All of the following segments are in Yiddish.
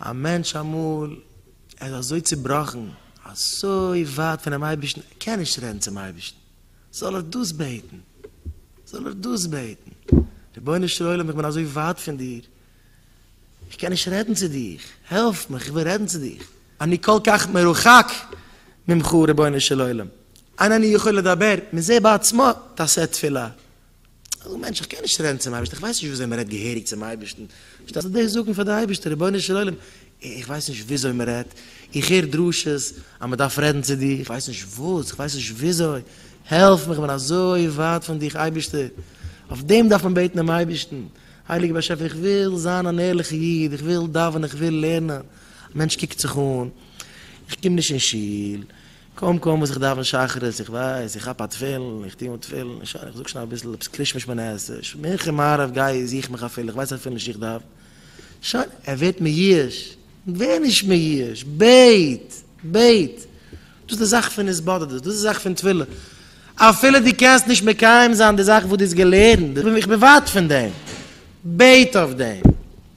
א מענטש אמאל ער איז אזוי צובראכן, אזוי ווייט פונעם אייבערשטן, ער קען נישט רעדן צום אייבערשטן, זאל ער דאס בעטן, זאל ער דאס בעטן, רבונו של עולם איך בין אזוי ווייט פון דיר, איך קען נישט רעדן צו דיך, העלף מיך, איך וויל רעדן צו דיך, אני כל כך מרוחק ממך רבונו של עולם, אין אני יכול לדבר, מזה בעצמו תעשה תפילה, אזא מענטש, איך קען נישט רעדן צום אייבערשטן, איך ווייס נישט וויאזוי מען רעדט געהעריג צום אייבערשטן, שטייסט דא זאגן פאר די אייבערשטער רבונו של עולם, איך ווייס נישט וויאזוי מען רעדט, איך הער דרשות אז מען דארף רעדן צו דיר, איך ווייס נישט וואס, איך ווייס נישט וויאזוי, העלף מיך, איך בין אזוי ווייט פון דיך אייבערשטער, אויף דעם דארף מען בעטן דעם אייבערשטן, הייליגער באשעפער איך וויל זיין אן ערליכע איד, איך וויל דאווענען, איך וויל לערנען, א מענטש קוקט זיך אן, איך קום נישט אין שול, קוים קוים וואס איך דאווען שחרית, איך ווייס, איך כאפ א תפילין, איך טוה אן תפילין, שוין, איך זאג שוין אביסל עפעס קרישמע שמונה עשרה, מנחה מעריב גיי איך זוך מיך אפילו, איך ווייס אפילו נישט איך דאווען, שוין, ער ווערט מיואש, ווער נישט מיואש, בעט, בעט, דאס איז די זאך פון התבודדות, דאס איז די זאך פון תפילה, אפילו דו קענסט נישט מקיים זיין די זאכן וואס דו האסט געלערנט, איך בין ווייט פון דעם, בעט אויף דעם.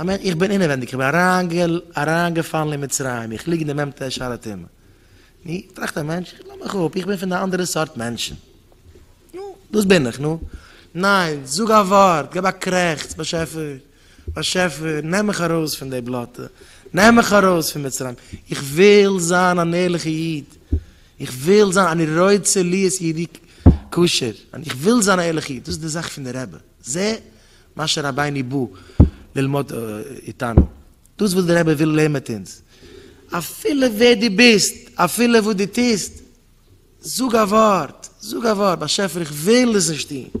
אמן, איך בין אינעווענדיג, איך בין אריינגעפאלן אין מצרים, איך ליג אין די מ ט שער התימן. נו, טראכט א מענטש, איך לאז מיך אפ, איך בין פון די אנדערע סארט מענטשן. נו, דאס בין איך, נו. ניין, זאג א ווארט, געב א קרעכץ, באשעפער, באשעפער, נעם מיך ארויס פון די בלאטע, נעם מיך ארויס פון מצרים, איך וויל זיין אן ערליכע איד, איך וויל זיין, אני רוצה להיות יהודי כשר, איך וויל זיין א ערליכע איד, דאס איז די זאך פון די רבי. זה מה שרבינו בא ללמוד איתנו, דאס וואס דער רבי וויל לערן מיט אונז, אפילו ווער דו ביסט, אפילו וואס דו טוסט, זאג א ווארט, זאג א ווארט, באשעפער איך וויל עס נישט טון,